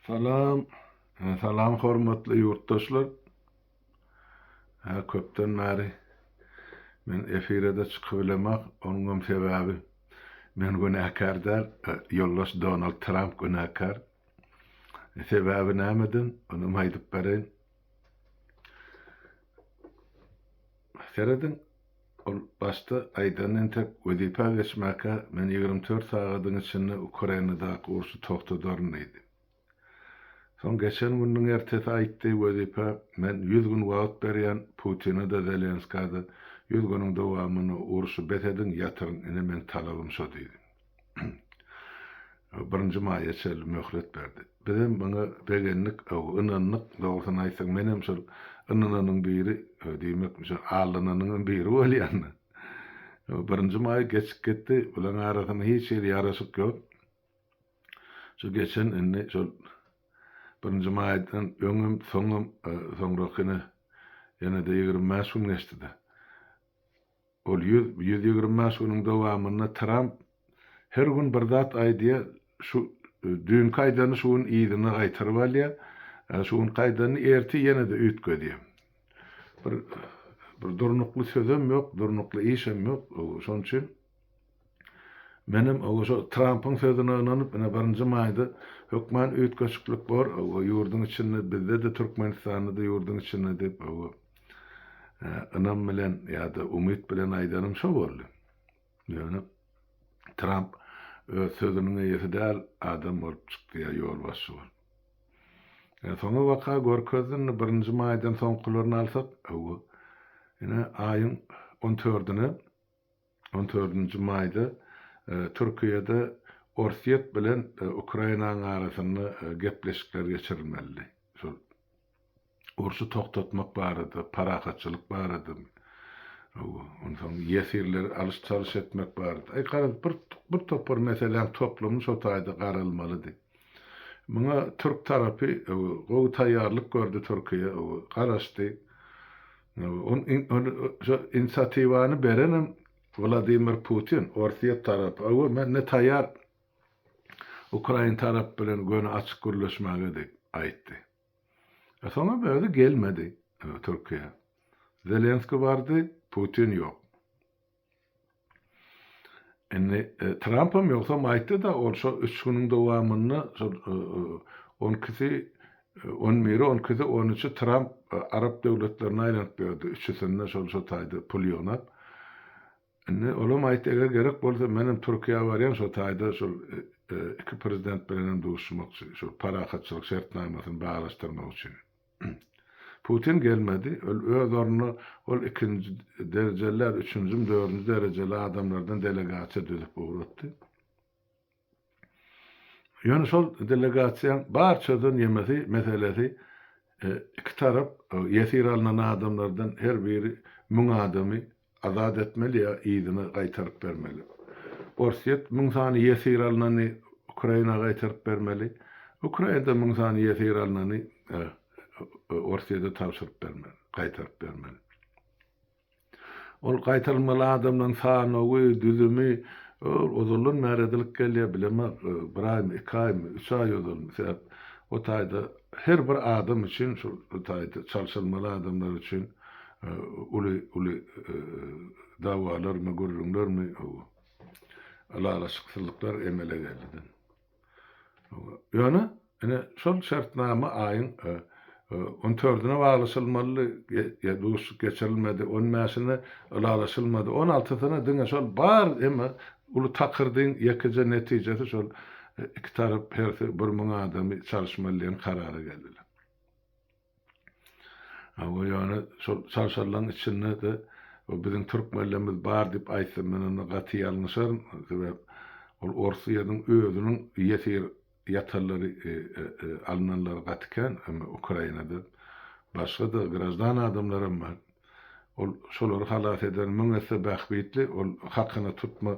Salam, salam hormatly ýurtdaşlar. Hä köpden bäri men efirede çykybilemak, onuňam sebäbi men günäkär däl, ýoldaş Donald Tramp günäkär. Sebäbi nämeden? Onuňam aýdyp bereýin. Serediň, Ol başda aýdan entek, wezipä geçmäkä men ýigrimi dört sagadyň içinde Ukrainadaky urşy togtadaryn diýdi. Soň geçen gününiň ertesi aýtdy, wezipä men ýüz gün wagt berýän, Putine-de, Zelenskä-de, ýüz günüň dowamynda urşy bes ediň, ýatyryň, ine meň talabym şo diýdi. birinji maýa çenli möhlet berdi. Bizem muňa begendik, ynandyk. Dogrusyny aýtsaň, menem şol ynananyň biri, diýmek, şo aldananyňam biri bolýan-da. Birinji maý geçip gitdi, bularyň arasynda hiç hili ýaraşyk ýok. Şu geçen indi şol birinji maýdan öňem, soňam, soňrakyny ýene-de ýigrimi bäş gün geçdi-de. Ol ýüz, ýüz ýigrimi bäş günüň dowamynda Tramp her gün bir zat aýdýar, şu düýnki aýdanyny şu gün yzyna gaýtaryp alýar, şu günki aýdanyny ertir ýene-de üýtgedýär. Bir bir durnukly sözem ýok, durnukly işem ýok, şonuň üçin. Menem şo Trampyň sözüne ynanyp ine birinji maýda hökman üýtgeşiklik bor ýurduň içinde bizde-de Türkmenistanda-da ýurduň içinde diýip ynam bilen ýa-da umyt bilen aýdanym şo boldy. Ýöne Tramp öz sözüniň eýesi däl adam bolup çykdy ýa ýolbaşçy bolup. Ýa soňy waka görkezdi indi birinji maýdan soňkularyny alsak ine aýyň on tördüne On dördünji maýda Türkiýede Orsýet bilen Ukrainanyň arasynda gepleşikler geçirilmelidi. Şol urşy togtatmak barada, parahatçylyk barada, onsoň ýesirleri alyş-çalyş etmek barada, aý, garaň, bir topar meseläň toplumy şo taýda garalmalydy. Muňa türk tarapy gowy taýýarlyk gördi, Türkiýe garaşdy. Şu inisiatiwany berenem Wladimir Putin, Orsýet tarapy. Hawa, men indi taýýar ukrain tarapy bilen göni açyk gürleşmäge diýip aýtdy. E, soňam özi gelmedi Türkiýä. Zelenski bardy, Putin ýok. Indi Trampam ýogsam aýtdy-da, ol şo üç günüň dowamynda şol on ikisi, on biri, on ikisi, on üçi Tramp arap döwletlerine aýlanyp ýördi, üçüsinde şol-şo taýda pul ýygnap. Indi olam aýtdy, eger gerek bolsa, menem Türkiýä barýan, şo taýda şol iki prezident bilenem duşuşmakçy, şol parahatçylyk şertnamasyny baglaşdyrmak üçin. Putin gelmedi. Ol öz ornuna ol ikinji derjeler, üçünjim, dördünji derejeli adamlardan delegasiýa düzüp ugratdy. Ýöne şol delegasiýaň bar çözen ýemesi, meselesi iki tarap ýesir alnan adamlardan her biri müň adamy Azat etmeli ýa yzyna gaýtaryp bermeli. Orsýet müň sany ýesir alnany Ukraina gaýtaryp bermeli. Ukrainada müň sany ýesir alnany Orsýede tabşyryp bermeli, gaýtaryp bermeli. Ol gaýtarylmaly adamlaryň sanawy, düzümi ol ozaldan bäri edilip gelýär, bilemok, bir aýmy, iki aýmy, üç aý ozalmy, sebäp o taýda her bir adam üçin, şol taýda çalşyrmaly adamlar üçin, Uly uly dawalarmy, gürrüňlermi, hawa, ylalaşyksyzlyklar emele geldi. Ýöne, ine, şol şertnama aýyň on tördüne baglaşylmalydy, ýa duşuşyk geçirilmedi, on bäşine ylalaşylmady, on altysyna diňe şol bar, emma uly takyrdyň ýekeje netijesi şol iki tarap hersi bir müň adamy çalyşmaly diýen karara geldiler. Hawa, ýöne şol çarşarlaryň içinde-de o biziň türkmenlerimiz bar diýip aýtsam, men onda gaty ýalňyşaryn. Sebäp ol Orusýanyň özüniň ýesir ýatanlary, alynanlary gaty kän. Emma Ukrainada başga-da graždan adamlar hem bar. Ol şolary halas eden müň esse bähbitli. Ol hakyna tutma,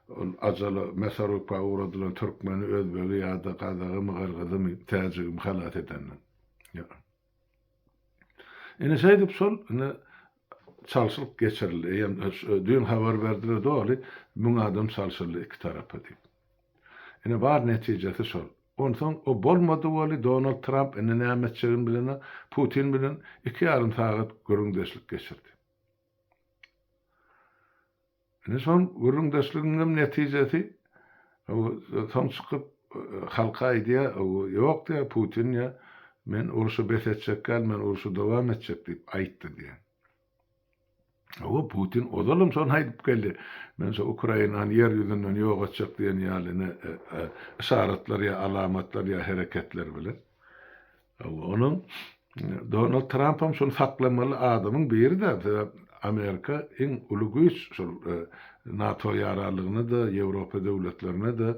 ol ajala, mesaruka ugradylan türkmeni, özbegi ýa-da gazagymy, gyrgyzymy, täjigimi halas edenden. Ýok. Ine şeýdip şol ine çalşylyk geçirildi. Eýýäm düýn habar berdiler doly müň adam çalşyldy iki tarapa diýip. Ine bar netijesi şol. Onsoň o bolmady weli Donald Tramp indi näme etjegini bilenok, Putin bilen iki ýarym sagat gürrüňdeşlik geçirdi. Indi şol gürrüňdeşligiňem netijesi soň çykyp halka aýdýar, ýok diýýär, Putin diýýär, men urşy bes etjek däl, men urşy dowam etjek diýip aýtdy diýýär. Hawa, Putin ozalam şony aýdyp geldi, men şu Ukrainany ýer ýüzünden ýok etjek diýen ýaly yşaratlar ýa alamatlar ýa hereketler bilen. Hawa, onuň Donald Trampam şuny saklamaly adamyň biri-de, sebäp Amerika iň uly güýç şol NATO ýaranlygyna-da, Ýewropa döwletlerine-de,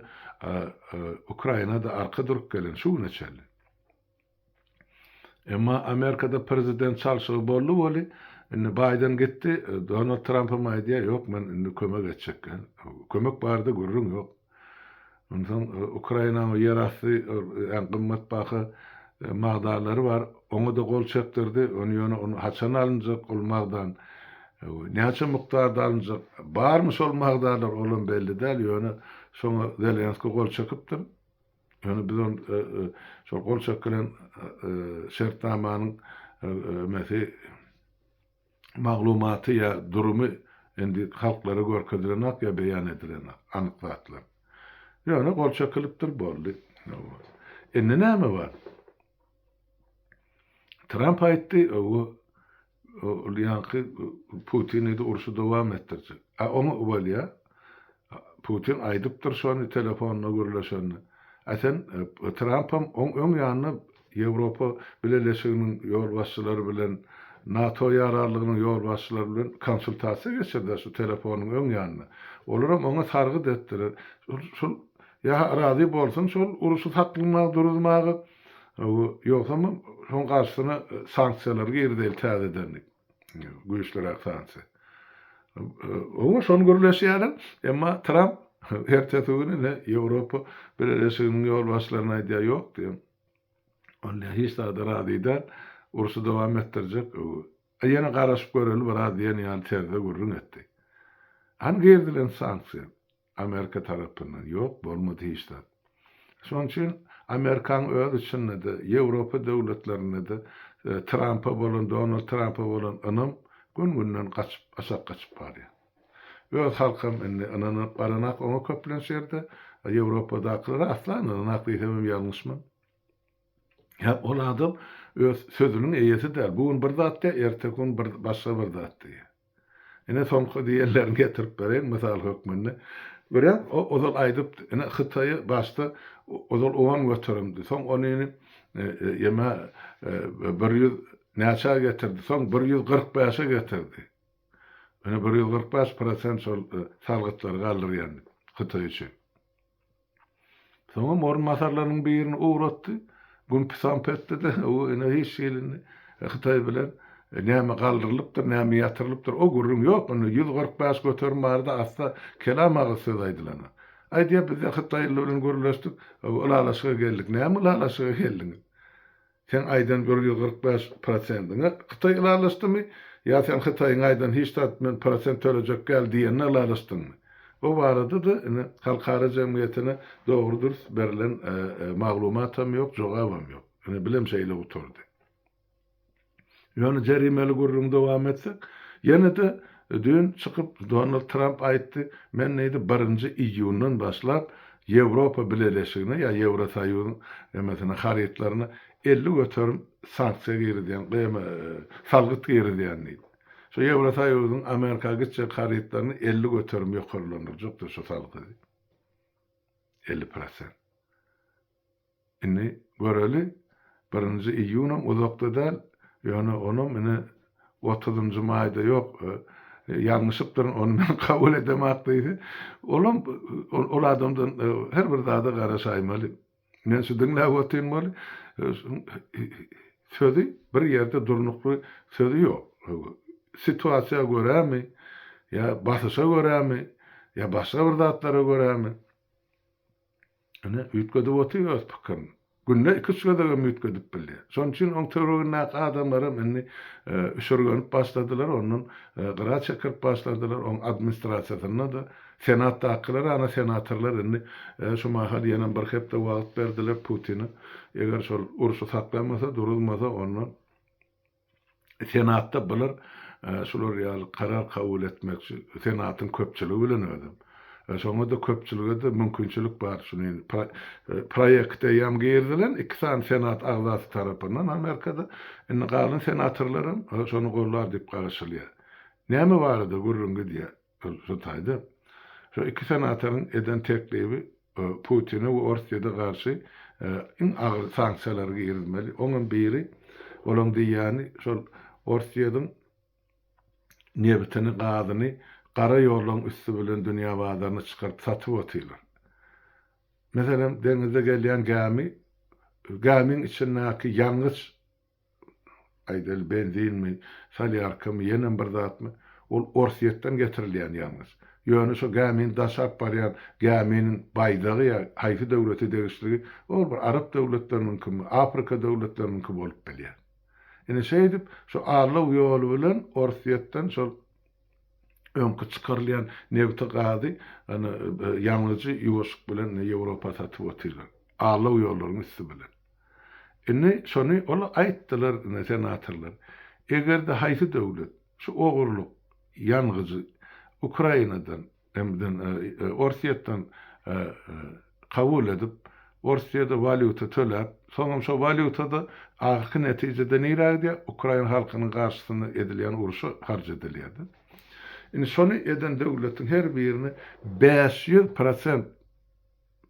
Ukraina-da arka durup gelen şu güne çenli. Emma Amerikada prezident çalşygy boldy weli, indi Baýden gitdi, Donald Trampam aýdýar, ýok men indi kömek etjek, kömek barada gürrüň ýok. Onsoň Ukrainanyň ýerasty äň gymmatbaha magdanlary bar. Oňa-da gol çekdirdi. Ony ýöne ony haçan alynjak ol magdan, näçe mukdarda alynjak, barmy şol magdanlar olam belli däl. Ýöne şoňa Zelenski gol çekipdir. Ýöne biz ony şol gol çekilen şertnamanyň emesi, maglumaty ýa durumy indi halklara görkezilenok ýa beýan edilenok anyk zatlar. Ýöne gol çekilypdir boldy. Indi näme bar? Tramp aýtdy, owo ol ýaňky Putin diýdi urşy dowam etdirjek. A oň bolýa? Putin aýdypdyr şony telefonda gürleşende. A sen Trampam oň öň ýanynda Ýewropa Bileleşiginiň ýolbaşçylary bilen, NATO ýararlygynyň ýolbaşçylary bilen konsultasiýa geçirdi-ä şu telefonyň öň ýanynda. Olaram oňa sargyt etdiler. Şol ýa-ha razy bolsun şol uruşy saklamaga, duruzmaga, ýogsam hem şoň garşysyna sanksiýalary girizeýli täzeden diýip. güýçlüräk sanksiýa. Oňa şony gürleşýärin, emma Tramp ertesi güni ine Ýewropa Bileleşiginiň ýolbaşçylaryna aýdýar, ýok diýen. Ol diýýär, hiç zada razy däl, urşy dowam etdirjek. Ýene garaşyp göreli biraz diýen ýaly terzde gürrüň etdi. Hany girdilen sanksiýa? Amerika tarapyndan ýok bolmady hiç zat. Şonuň üçin Amerikaň öz içinde-de, Ýewropa döwletlerinde-de Trampa bolan, Donald Trampa bolan ynam gün-günden gaçyp, aşak gaçyp barýar. Öz halkam indi ynanyp baranak oňa köplenç ýerde, Ýewropadakylar asla ynananak diýsemem ýalňyşman. Hä, ol adam öz sözüniň eýesi däl. Bu gün bir zat diýýär, erteki gün bir başga bir zat diýýär. Ine, soňky diýenlerini getirip bereýin mysal hökmünde. Görýäň, o ozal aýdypdy. Ine, Hytaýy başda ozal on göterimdi. Soň ony ine, ýeme, bir ýüz näçä getirdi. Soň bir ýüz kyrk bäşe getirdi. Ine, bir ýüz kyrk bäş prosent şol salgytlary galdyrýandyk Hytaý üçin. Soňam orunbasarlarynyň birini ugratdy. Gün pisam pesdi-de, o ene hiç hilini Hytaý bilen näme galdyrylypdyr, näme ýatyrylypdyr, o gürrüň ýok. Indi ýüz kyrk bäş göterim bardy, asla kelam agyz söz aýdylana. Aýdýar, biz-ä hytaýlylar bilen gürleşdik, ylalaşyga geldik. Näme ylalaşyga geldiňiz? Seň aýdan bir ýüz kyrk bäş prosendiňe Hytaý ylalaşdymy? Ýa sen Hytaýyň aýdan hiç zat men prosent tölejek däl diýenine ylalaşdyňmy? Bu barada-da ine, halkara jemgyýetine dogry-dürs berilen maglumatam ýok, jogabam ýok. Ine, bilim şeýle gutardy. Ýöne jerimeli gürrüňi dowam etsek, ýene-de düýn çykyp Donald Tramp aýtdy, Men diýdi, birinji iýundan başlap Ýewropa Bileleşigine ýa Ýewrosoýuzyň nemesine, harytlaryna elli göterim sanksiýa girizýän, gyýma, salgyt girizýän diýdi. Şu Ýewrosoýuzyň Amerika gitjek harytlaryny elli göterim ýokarlandyrjakdyr şu salgydy. Elli prosent. Indi göreli, birinji iýunam uzakda däl, ýöne onam ine otuzynjy maýda ýok, ýalňyşypdyryn, ony men kabul edemok diýse, olam ol adamdan her bir zada garaşaýmaly. Men şu diňläp otyrmaly, sözi bir ýerde durnukly sözi ýok. Situasiýa görämi, ýa basyşa görämi, ýa başga bir zatlara görämi. Ine, üýtgedip otyr öz pikirini. Günde iki-üç gezegem üýtgedip bilýär. Şonuň üçin oň töweregindäki adamlaram indi üşürgenip başladylar, ondan gyra çekirip başladylar. Oň administrasiýasynda-da, senatdakylar, ana, senatorlar indi şu mahal ýenem bir hepde wagt berdiler Putine. Eger şol urşy saklamasa, duruzmasa, onda Senatda bular şular ýaly karar kabul etmekçi senatyň köpçüligi bilen özem. Şoňa-da köpçülige-de mümkinçilik bar şu indi proýekt eýýäm girizilen iki sany senat agzasy tarapyndan Amerikada indi galan senatorlar hem şony gollar diýip garaşylýar. Näme barada gürrüň gidýär? Şu taýda şu iki senatoryň eden teklibi Putine we Orsýede garşy iň agyr sanksiýalary girizmeli. Oňam biri, olaň diýýäni, şol Orsýediň nebitini, gazyny gara ýollaryň üsti bilen dünýä bazaryna çykaryp satyp otyrlar. Meselem, deňizde gelýän gämi, gämiň içindäki ýangyç Aýdaly benzinmi, solýarkamy, ýenem bir zatmy, ol Orsýetden getirilýän ýalňyş. Ýöne şo gämini daşap barýan gäminiň baýdagy ýa haýsy döwlete degişligi, ol bir arap döwletleriniňkimi, Afrika döwletleriniňki bolup bilýär. Ine şeýdip, şu Arlaw ýoly bilen Orsýetden şol Öňki çykarylýan nebiti gazy ýangyjy ýuwaşyk bilen Ýewropa satyp otyrlar. Alaw ýollaryň üsti bilen. Indi şony ol aýtdylar senatorlar. Eger-de haýsy döwlet şu ogurlyk ýangyjy Ukrainadan MDN Orsýetden kabul edip, Orsýede walýuta töläp, soňam şo walýutada ahyrky netijede nirä gidýär? Ukrain halkynyň garşysyna edilýän urşa harç edilýär-de. Indi şony eden döwletiň her birini bäş ýüz prosent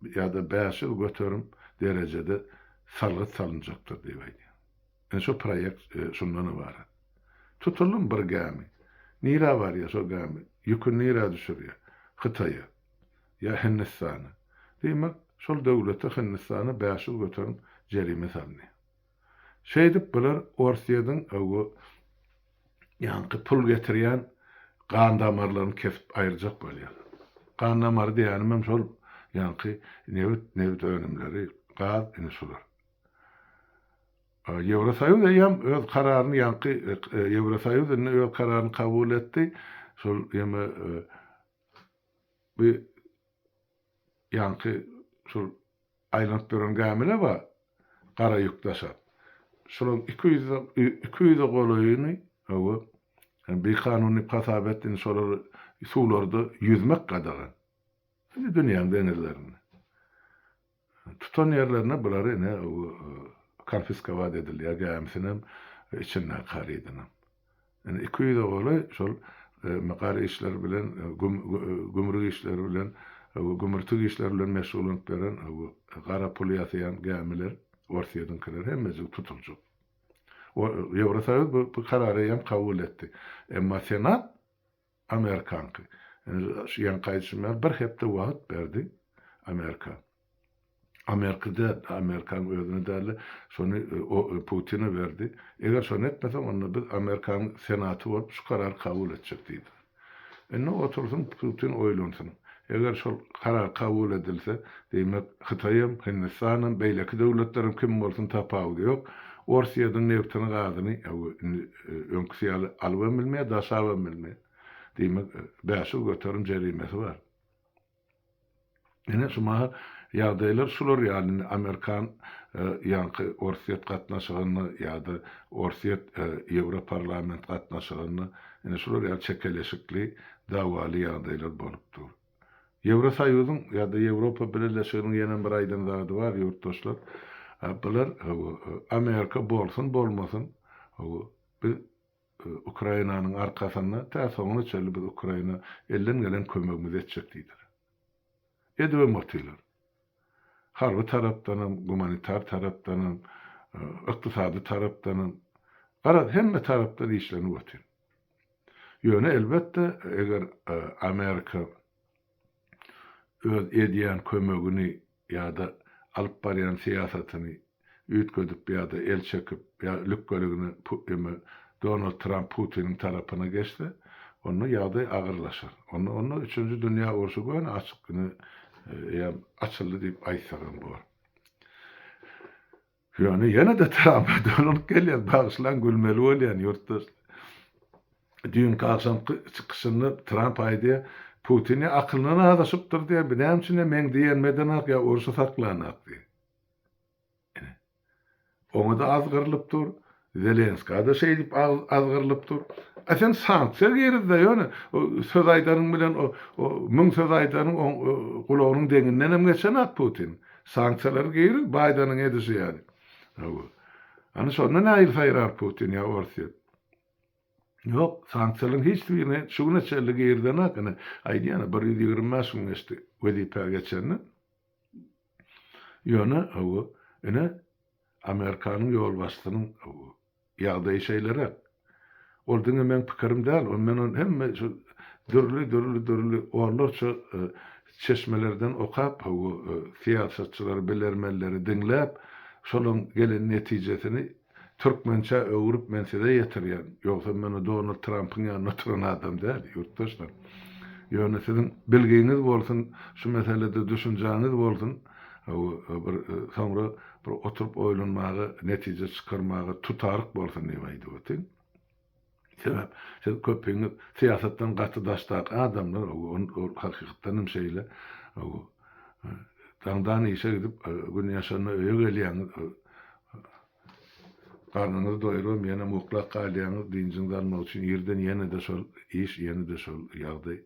ýa-da bäş ýüz göterim derejede salgyt salynjakdyr diýip aýdýar. Ine şo proýekt şundan ybarat. Tutalym bir gämi. Nirä barýar şo gämi? Ýüküni nirä düşürýär? Hytaýa. Ýa Hindistana. Diýmek, şol döwlete, Hindistana bäş ýüz göterim jerime salynýar. Şeýdip bular Orsýetiň bu ýaňky pul getirýän gan damarlaryny kesip aýyrjak bolýarlar. Gan damary diýenimem şol ýaňky nebit, nebit önümleri, gaz, ine şular. Ýewrosoýuz eýýäm öz kararyny ýaňky Ýewrosoýuz indi öz kararyny kabul etdi. Şol ýeme bi ýaňky şol aýlanyp duran gämine bar, gara ýük daşap. Şolaň iki ýüz iki ýüze golaýyny owo bikanun diýip hasap etdi. Indi şolar suwlarda ýüzmek gadagan. Dünýäň deňizlerinde. Tutan ýerlerine bulary ine konfiskowat edilýär gämisinem içindäki harydynam. Ine iki ýüze golaý şol gar işleri bilen gümrük işleri bilen gümürtik işleri bilen meşgullanyp beren gara puly ýasaýan gämiler orsýediňkiler hemmejigi tutuljak. Ýewrosoýuz bu karary eýýäm kabul etdi. Emma senat. Amerikanky. Şu ýan gaýdyşymdan bir hepde wagt berdi. Amerika. Amerika däl, Amerikanyň özüne däl-de, şony Putine berdi. Eger şony etmeseň, onda biz Amerikanyň Senaty bolup, şu karary kabul etjek diýdi. Indi otursyn, Putin oýlansyn. Eger şol karar kabul edilse, diýmek, Hytaý hem, Hindistan hem, beýleki döwletler hem kim bolsun tapawudy ýok, Orsýetiň nebtini, gazyny, Öňküsi ýaly alybam bilmeýär, daşabam bilmeýär. Diýmek, bäş ýüz göterim jerimesi bar. Ine, şu mahal ýagdaýlar şular ýaly. Indi amerikan, ýaňky orsýet gatnaşygynda ýa-da orsýet, ýewroparlament gatnaşygynda ine şular ýaly çekeleşikli, dawaly ýagdaýlar bolup dur. Ýewrosoýuzyň ýa-da Ýewropa Bileleşiginiň ýene bir aýdan zady bar, ýurtdaşlar. Bular, hawa, Amerika bolsun, bolmasyn, hawa, biz Ukrainanyň arkasynda, tä soňuna çenli biz Ukraina elden gelen kömegimizi etjek diýdiler. Edibem otylar. Harby tarapdanam, gumanitar tarapdanam, ykdysady tarapdanam. Garaz, hemme tarapdan işlenip otyr. Ýöne elbetde, eger Amerika öz edýän kömegini ýa-da alyp barýan syýasatyny üýtgedip ýa-da el çekip ýa lükgeligine eme Donald Tramp Putiniň tarapyna geçse, onda ýagdaý agyrlaşar. Onda onda üçünji dünýä urşy göni açyk ine eýýäm açyldy diýip aýtsak hem bor. Ýöne ýene-de Trampa dolanyp gelýän, bagyşlaň gülmeli bolýan ýurtdaş. Düýnki agşamky çykyşynda Tramp aýdýar, Putin ýa akylyna azaşypdyr diýýär, bu näme üçin ýa meň diýenmedenak ýa urşy saklanak diýýär. Ine. Oňa-da azgyrylyp dur. Zelenska-da şeýdip azgyrylyp dur. A sen sanksiýa girizde ýöne söz aýdaryň bilen o müň söz aýdaryň oň gulagynyň deňindenem geçenak Putin. Sanksiýalary giriz Baýdanyň edişi ýaly. Hawa. Ana şonda nähili saýrar Putin ýa Orsýet. Ýok, sanksiýalaryň hiç birini şu güne çenli girizenak ine aýdýan-a bir ýüz ýigrimi bäş gün geçdi wezipä geçenden. Ýöne hawa ine. Amerikanyň ýolbaşçysynyň ýagdaýy şeýleräk. Ol diňe meň pikirim däl, ony men hemme şu dürli, dürli, dürli onlarça çeşmelerden okap, syýasatçylary, bilermenleri diňläp, şolaryň gelen netijesini türkmençä öwrüp men size ýetirýän. Ýogsam men Donald Trampyň ýanynda oturan adam däl, ýurtdaşlar. Ýöne siziň bilgiňiz bolsun, şu meselede düşünjäňiz bolsun, bir soňra Bir oturyp oýlanmaga, netije çykarmaga tutaryk bolsun diýip aýdyp otyryn. Sebäp, siz köpiňiz syýasatdan gaty daşdaky adamlar, ol hakykatdan hem şeýle. Daňdan işe gidip, gün ýaşanda öýe gelýäňiz, garnyňyzy doýuribem ýenem uklap galýaňyz, dynjyňyzy almak üçin irden ýene-de şol iş, ýene-de şol ýagdaý.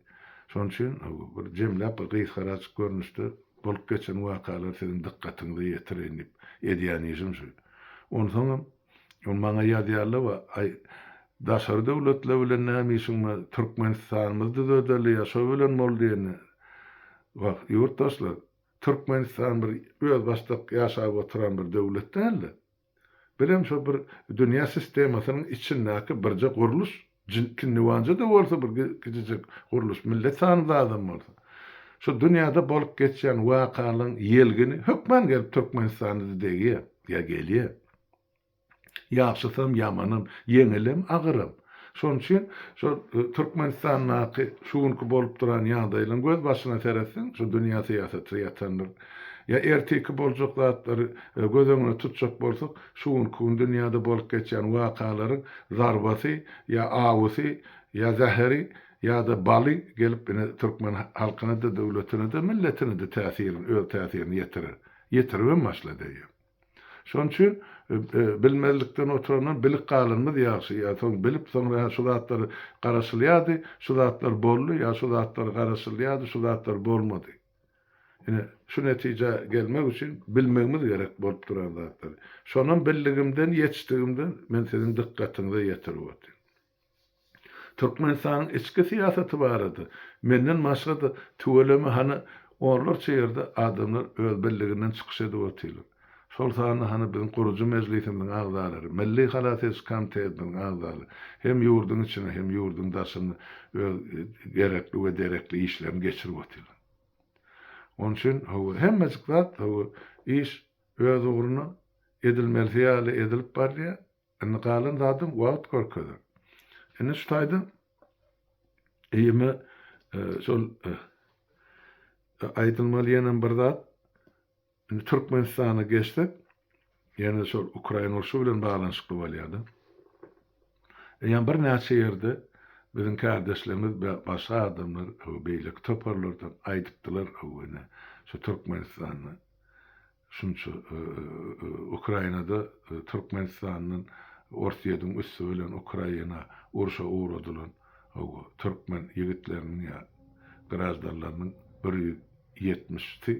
Şonuň üçin bir jemläp, bir gysgaraçyk görnüşde, Bolup geçen wakalary siziň dykgatyňyza ýetireýin diýip, edýän işim şu. Onsoňam, ol maňa ýazýarla-wa, Aý, daşary döwletler bilen näme işiň bar, Türkmenistanymyzy düzedeli ýa şo bilen bol diýende, Wah, ýurtdaşlar, Türkmenistan bir özbaşdak ýaşap oturan bir döwlet däl-de. Bilen şo bir dünýä sistemasynyň içindäki birje gurluş, kinniwanja-da bolsa bir kijijek gurluş, millet sany az adam bolsa, şo dünýäde bolup geçýän wakalaryň ýelgini hökman gelip Türkmenistana-da degýär. Ýa gelýär. Ýagşysam, ýamanam, ýeňilem, agyram. Şonuň üçin şol Türkmenistandaky şu günki bolup duran ýagdaýlaryň gözbaşyna seretseň, şu dünýä syýasaty ýatandyr. Ýa ertiki boljak zatlary göz öňünde tutjak bolsak, şu günki gün dünýäde bolup geçýän wakalaryň zarbasy ýa awusy ýa zäheri ýa-da baly gelip ine türkmen halkyna-da, döwletine-de, milletine-de täsirin, öz täsirini ýetirer. Ýetiribem başlady eýýäm. Şonuň üçin bilmezlikden oturandan bilip galanymyz ýagşy ýa soň bilip soňra hä şu zatlar garaşylýardy şu zatlar boldy ýa şu zatlar garaşylýardy şu zatlar bolmady. Ine şu netijä gelmek üçin bilmegimiz gerek bolup duran zatlary. Şonam bildigimden ýetişdigimden men siziň dykgatyňyza ýetirip otyryn. Türkmenistanyň içki syýasaty barada menden başga-da tüweleme hany onlarça ýerde adamlar öz birliginden çykyş edip otyrlar. Şol sanda hany biziň gurujy mejlisimiziň agzalary, Milli halas ediş komitetimiziň agzalary hem ýurduň içinde hem ýurduň daşynda öz gerekli we derekli işlerini geçirip otyrlar. Onuň üçin hawa hemmejik zat hawa iş öz ugruna edilmelisi ýaly edilip barylýar. Indi galan zady wagt görkezer. Indi şu taýda eýeme şol aýdylmaly ýene bir zat. Indi Türkmenistana geçsek, ýene şol Ukraina urşy bilen baglanyşykly bolýar-da. Eýýäm birnäçe ýerde biziň kärdeşlerimiz we başga adamlar, beýleki toparlardan aýdypdylar, şu Türkmenistanda Şunça Ukrainada Türkmenistandan Orsyýediň üsti bilen Ukraina urşa ugradylan hawa Türkmen ýigitleriniň ýa graždanlarynyň bir ýüz ýetmiş si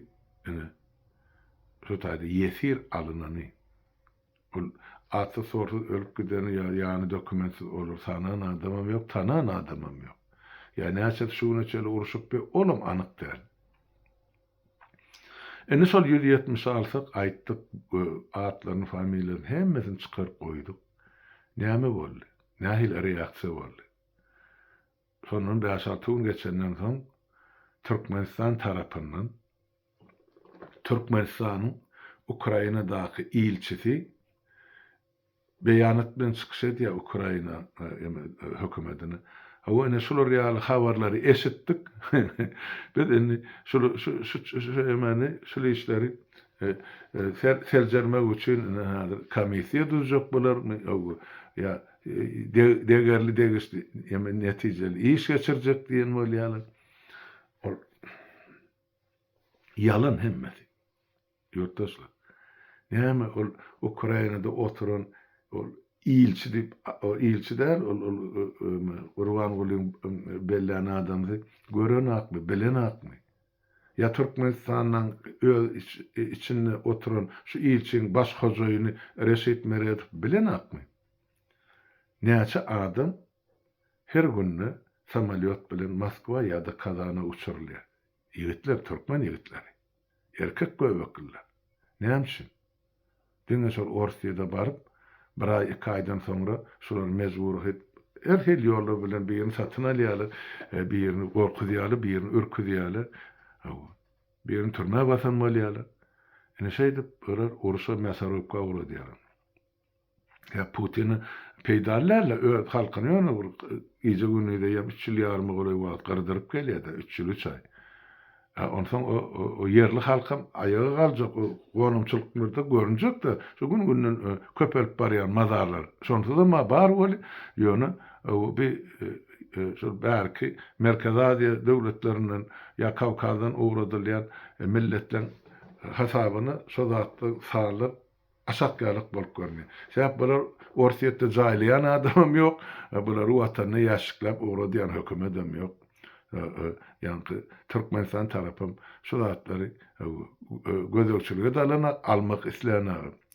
ine şu taýda ýesir alynany ol atsy sorsuz ölüp gideni ýa ýany dokumentsiz olar sanan adamam ýok tanan adamam ýok ýa näçesi şu güne çenli urşup be olam anyk däl. Indi şol ýüz ýetmişi alsak, aýtdyk, atlaryny, familiýalaryny hemmesini çykaryp goýduk. Näme boldy? Nähili reaksiýa boldy? Şondan bäş-alty gün geçenden soň Türkmenistan tarapyndan Türkmenistanyň Ukrainadaky ilçisi Beýanat bilen çykyş edýär Ukraina hökümetini. Hawa ine şular ýaly habarlary eşitdik. Biz indi şul şu emani şul işleri seljermek üçin ine hazir komissiýa düzjek bolarmy öwgi ýa degerli degişli eme netijeli iş geçirjek diýen bolýarlar. Ol ýalan hemmesi. Ýurtdaşlar, näme ol Ukrainada oturan ol ilçi diýip, ol ilçi däl, ol ol Gurbangulyň bellän adamsy, görenakmy, bilenakmy? Ýa Türkmenistanyň öz içinde oturan şu ilçiň baş hojaýyny Reşit Meredow bilenakmy? Näçe adam her günde samolýot bilen Moskwa ýa-da Kazana uçurylýar? Ýigitler, türkmen ýigitleri, erkek göbekliler, näme üçin? Diňe şol Orsyýada baryp, bir aý, iki aýdan soňra şular mejbury hit, her hil ýollar bilen birini satyn alýarlar, birini gorkuzýarlar, birini ürküzýärler, hawa, birini türmä basan bolýarlar. Ine şeýdip, olar uruşa, mäsorowka ugradýarlar. Ýa Putin peýdaly däl-de, öz halkyny ýöne bir gije-gündize ýa üç ýyl ýaryma golaý wagt gyrdyryp gelýär-de, üç ýyl, üç aý. Ä, onsoň o ýerli halkam aýaga galjak, o gonamçylyklarda görünjek-de, şu gün-günden köpelip barýan mazarlar. Şonsuzam-a bar weli, ýöne bi şol bärki Merkezi Aziýa döwletlerinden ýa Kawkazdan ugradylýan milletleriň hasabyna şo zatlar salnyp, Aşakýarlyk bolup görünýär. Sebäp bular Orsýetde jaýlaýan adamam ýok, bulary watanyna ýaşşikläp ugradýan hökümetem ýok. Ýaňky Türkmenistan tarapam şu zatlary gözegçilige de alan, almak islän.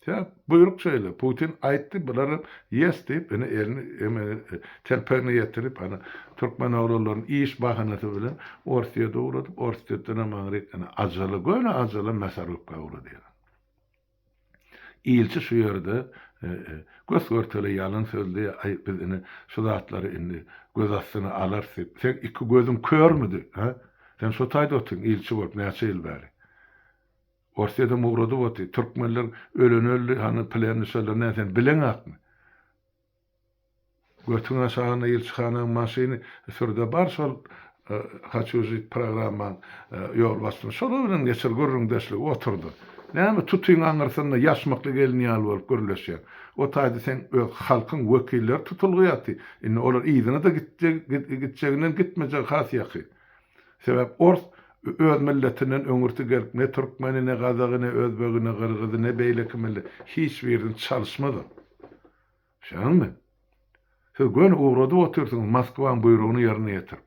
Sebäp buýruk şeýle, Putin aýtdy, bularam ýes diýip, ine elini eme telpegine ýetirip, ana türkmen oglanlaryny iş bahanasy bilen Orsýete ugradyp, Orsýetdenem aňryk ene ajala, göni ajala Mäsarowka ugradýar. Ilçi şu ýerde gös-görtele ýalan sözli, Aý, biz indi şu zatlary indi göz astyna alarys diýip, seň iki gözüň körmidi, hä? Sen şo taýda otyryn, ilçi bolup, näçe ýyl bäri? Orsýedem ugradyp otyr. Türkmenler öleni öldi, hany plenli şolar nä, sen bileňäkmi? Götüň aşagyna ilçihanaň maşyny sürde bar şol Haçu žit programmaň ýolbaşçyny şolar bilen geçir gürrüňdeşlige oturdyr. Näme tutyň aňyrsynda ýaşmakly gelin ýaly bolup gürleşýäň. O taýda seň öz halkyň wekilleri tutulgy ýaty. Indi olar yzyna-da gitjeginden gitmejegi has ýaky. Sebäp ors öz milletinden öňürti gelip ne türkmeni ne gazagy ne özbegi ne gyrgyzy ne beýleki milli hiç birini çalyşmaz o. Şaňmy? Siz göni ugradyp otyrsyňyz Moskwaň buýrugyny ýerine ýetirip.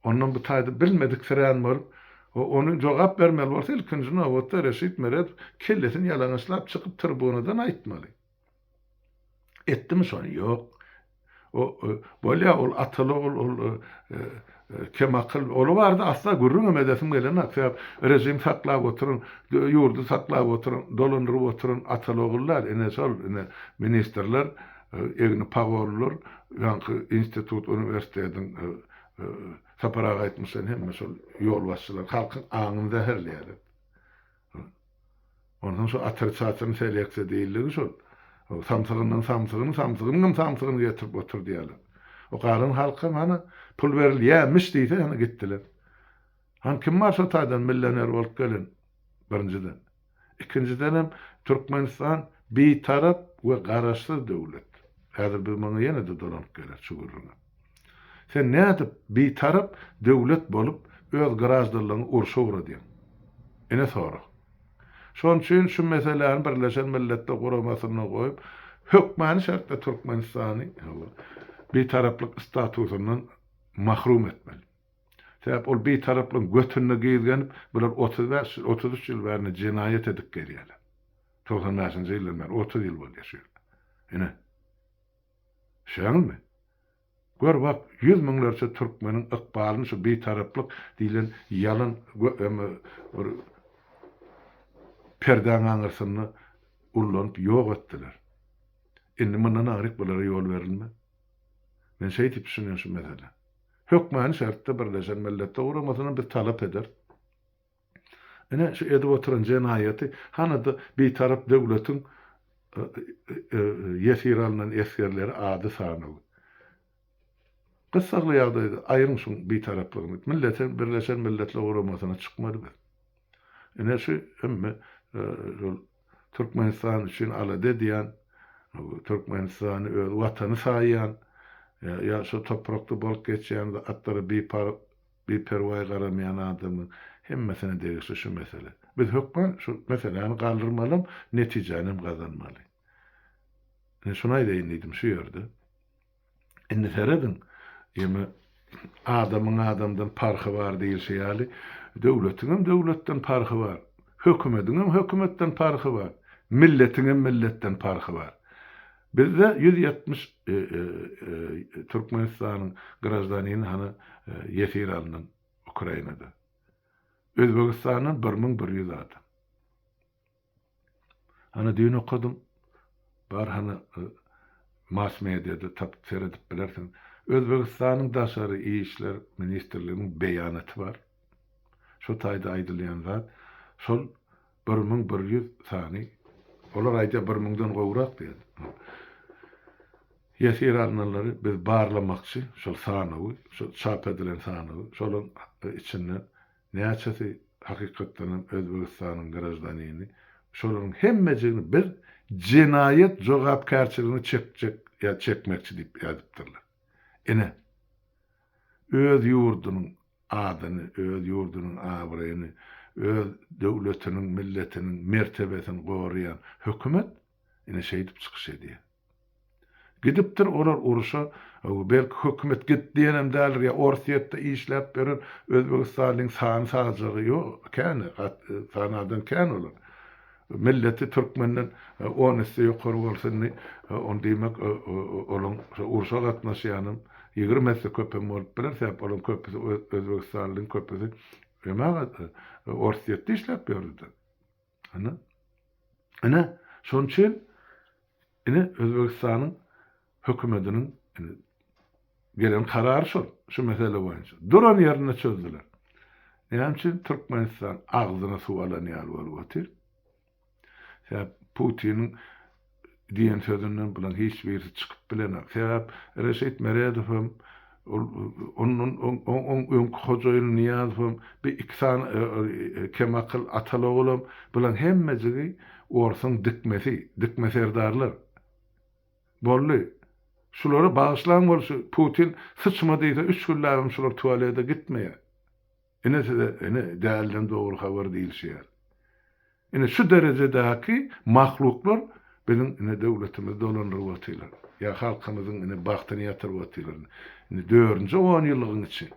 Ondan bu taýda bilmediksirän bolup, o ony jogap bermeli bolsa, ilkinji nobatda Reşit Meredow kellesini ýalaňaçlap çykyp tribunadan aýtmaly. Etdimi şony? Ýok. O, bolýa, ol Ataly, ol, ol, kemakyl, ol barada asla gürrüň hem edesim gelenok, sebäp režim saklap oturan, ýurdy saklap oturan, dolandyryp oturan Ataly ogul däl, ine, şol, ine, ministrler, egni pagollar, ýaňky institut, uniwersitetiň, Sapar aga aýtmyşyn, hemme şol ýolbaşçylar halkyň aňyny zäherleýärler. Onsoň şu atrçatyryň seleksiýa diýildigi şol. Samsygyndan samsygyny, samsygynyňam samsygyny getirip otur diýýärler. O galan halkam hany pul berilýämiş diýse hany gitdiler. Hany kim bar şo taýdan milloner bolup gelen? Birinjiden. Ikinjidenem Türkmenistan bitarap we garaşsyz döwlet. Häzir biz muňa ýene-de dolanyp geler şu gürrüňe. Sen nädip bitarap döwlet bolup öz graždanlygyňy urşa ugradýaň? Ine sorag. Şon üçin şu meseläni Birleşen Milletler Guramasynda goýup, hökmany şertde Türkmenistany bitaraplyk statusyndan mahrum etmeli. Sebäp ol bitaraplygyň götünde gizgenip, bular otuz bäş ýyl, otuz üç ýyl bärde jenaýat edip gelýärler. Togsan bäşinji ýyldan bäri otuz ýyl bolýar şu ýerde. Ine. Şeýleňizmi? Gör bak, ýüz müňlerçe türkmeniň ykbalyny şu Bitaraplyk diýlen ýalan bir perdäň aňyrsynda ullanyp ýok etdiler. Indi mundan aňryk bulara ýol berilmez. Men şeý diýip düşünýän şu meselä. Hökmany şertde Birleşen Milletler Guramasyna biz talap ederis. Ine, şu edip oturan jenaýaty hany-da Bitarap döwletiň ýesir alnan esgerleri ady sanaly. Gyssagly ýagdaýda aýryň şuň Bitaraplygyny. Millete Birleşen Milletler Guramasyna çykmady biz. Ine şu hemme şol Türkmenistan üçin alada edýän, Türkmenistany öz Watany saýýan, ýa şu toprakda bolup geçýän zatlara biparh Biperwaý garamaýan adamyň hemmesine degişli şu mesele. Biz hökman şu meseläni galdyrmalam, netijänem gazanmaly. Ine şuny aýdaýyn diýdim şu ýerde. Indi serediň, ýeme adamyň adamdan parhy bar diýilşi ýaly, döwletiňem döwletden parhy bar, hökümediňem hökümetden parhy bar, milletiňem milletden parhy bar. Bizde ýüz ýetmiş Türkmenistanyň graždanini hany ýesir alnan Ukrainada. Özbegistandan bir müň bir ýüz adam. Hany düýn okadym. Bar hany mass-mediada tapyp seredip bilersiň. Özbegistanyň daşary işler ministrliginiň beýanaty bar. Şo taýda aýdylýan zat şol Bir müň bir ýüz sany, olar aýdýar bir müňden gowrak diýýär. Ýesir alnanlary biz barlamakçy, şol sanawy, şol çap edilen sanawy, şolaryň içinden näçesi hakykatdan hem Özbegistanyň graždanini, şolaryň hemmejigini biz jenaýat jogapkärçiligine çekjek ýa çekmekçi diýip ýazypdyrlar. Ine. öz ýurdunyň adyny, öz ýurdunyň abraýyny, öz döwletiniň, milletiniň mertebesini goraýan hökümet ine şeýdip çykyş edýär. Gidipdir olar uruşa, belki hökümet git diýenem däldir, ýa Orsýetde işläp ýören özbegistanlyň sany sagjagy ýok, kän, sanadan kän olar. Milleti türkmenden on esse ýokary bolsa indi ol diýmek olaň şo urşa gatnaşýanam ýigrimi esse köp hem bolup biler sebäp olaň köpüsi özbegistanlyň köpüsi emma orsýetde işläp ýörüdä ine ine şonuçin ine özbegistanyň hökümetiniň gelen karary şol, şu mesele boýunça. Duran ýerinde çözdüler. Näme üçin Türkmenistan agzyna suw alan ýaly bolup otyr? Sebäp Putiniň diýen sözünden bularyň hiç birisi çykyp bilenok. Sebäp Reşit Meredow hem, ondan oň öňki hojaýyn Nyýazow hem, bir iki sany kemakyl ataloglam bularyň hemmejigi orsuň dikmesi, dikme serdarlar. Boldy. Şulary bagyşlaň bolşy Putin syçma diýse üç günläbem şular tualede gitmeýär. Ine size ine dälden dogry habar diýilşýär. Ine şu derejedäki mahluklar biziň ine döwletimizi dolandyryp otylar. Ýa halkymyzyň ine bagtyny ýatyryp otylar. Ine dördünji on ýyllygyň içi.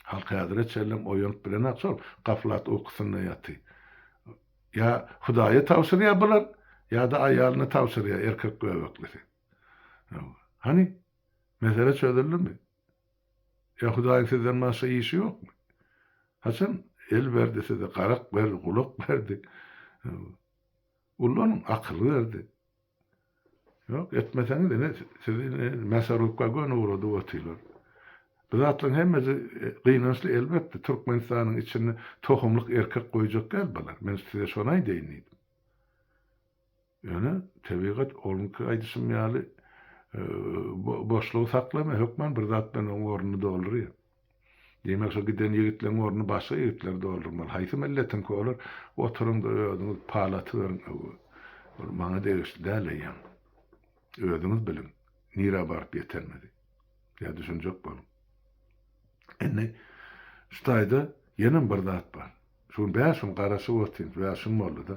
Halk häzire çenlem oýanyp bilenok şol gaflat ukusynda ýaty. Ýa hudaýa tabşyrýa bular ýada aýalyna tabşyrýa erkek göbeklisi. Hawa. Hany mesele çözüldimi? Ýa hudaýyň sizden başga işi ýokmy? Haçan el berdi size garak berdi gulak berdi. Hawa. Ullanyň akyl berdi. Ýok, etmeseňiz ine sizi ine mässarlykka göni ugradyp otylar. Bu zatlaryň hemmesi gynançly elbetde, Türkmenistanyň içinde tohumlyk erkek goýjak däl bular, men size şony aýdaýyn diýdim. Ýöne tebigat onuňky aýdyşym ýaly boşlugy saklamaýar, hökman bir zat bilen oň ornuny doldurýar. Diýmek şo giden ýigitleň ornuny başga ýigitler doldurmaly. Haýsy milletiňki olar? Oturyňda özüňiz pal atyberiň öňe. Ol maňa degişli däl eýýäm. Özüňiz biliň, nirä baryp ýetermizi. Ýa düşünjek boluň. Indi şu taýda ýenem bir zat bar. Şu gün bäş gün garaşyp otyryn, bäş gün boldy-da.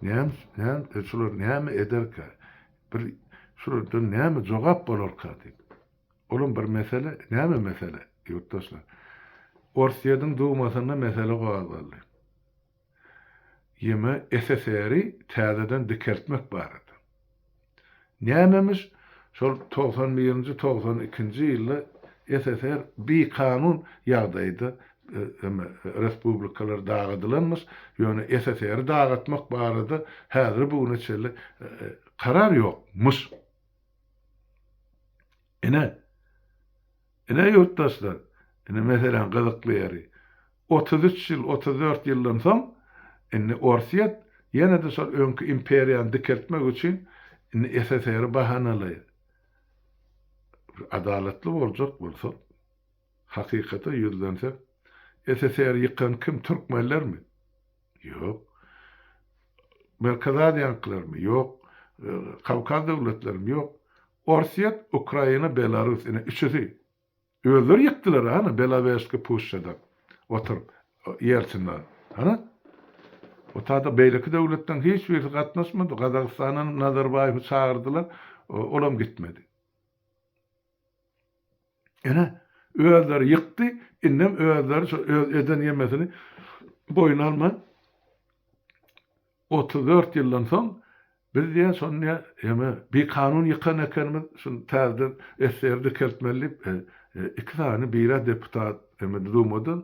Näme näme şular näme ederkä? Bir şulardan näme jogap bolarka diýip. Olam bir mesele, näme mesele, ýurtdaşlar? Orsýediň Dumasynda mesele gozgaldy. Ýeme SSR-i täzeden dikeltmek barada. Nämemiş, şol togsan birinji, togsan ikinji ýylda SSR bikanun ýagdaýda eme respublikalar dagadylanmyş, ýöne SSR-i dagatmak barada häzir bu güne çenli karar ýokmyş. Ine, ine ýurtdaşlar, ine meseläň gyzykly ýeri, otuz üç ýyl, otuz dört ýyldan soň indi Orsýet ýene-de şol öňki imperiýany dikeltmek üçin indi SSR-i bahanalaýar. Bir adalatly boljak bolsak, hakykata ýüzlensek, SSR-i ýykan kim, türkmenlermi? Ýok. Merkezi Aziýanykylarmy? Ýok. Kawkaz döwletlerimi? Ýok. Orsýet, Ukraina, Belarus, ine üçüsi. Özleri ýykdylar hany Belawejski puşşada oturyp Ýelsinle. Hany? O taýda beýleki döwletden hiç birisi gatnaşmady. Gazagystandan Nazarbaýewi çagyrdylar, olam gitmedi. Ene, özleri ýykdy, indem özleri şol öz eden ýemesini boýun alman, otuz dört ýyldan soň, biz diýýä, şony diýýä, ýeme, bikanun ýykan ekenimiz, şuny täzeden SSR dikeltmeli diýip, iki sany, biri-ä deputat, ýeme, Dumadan,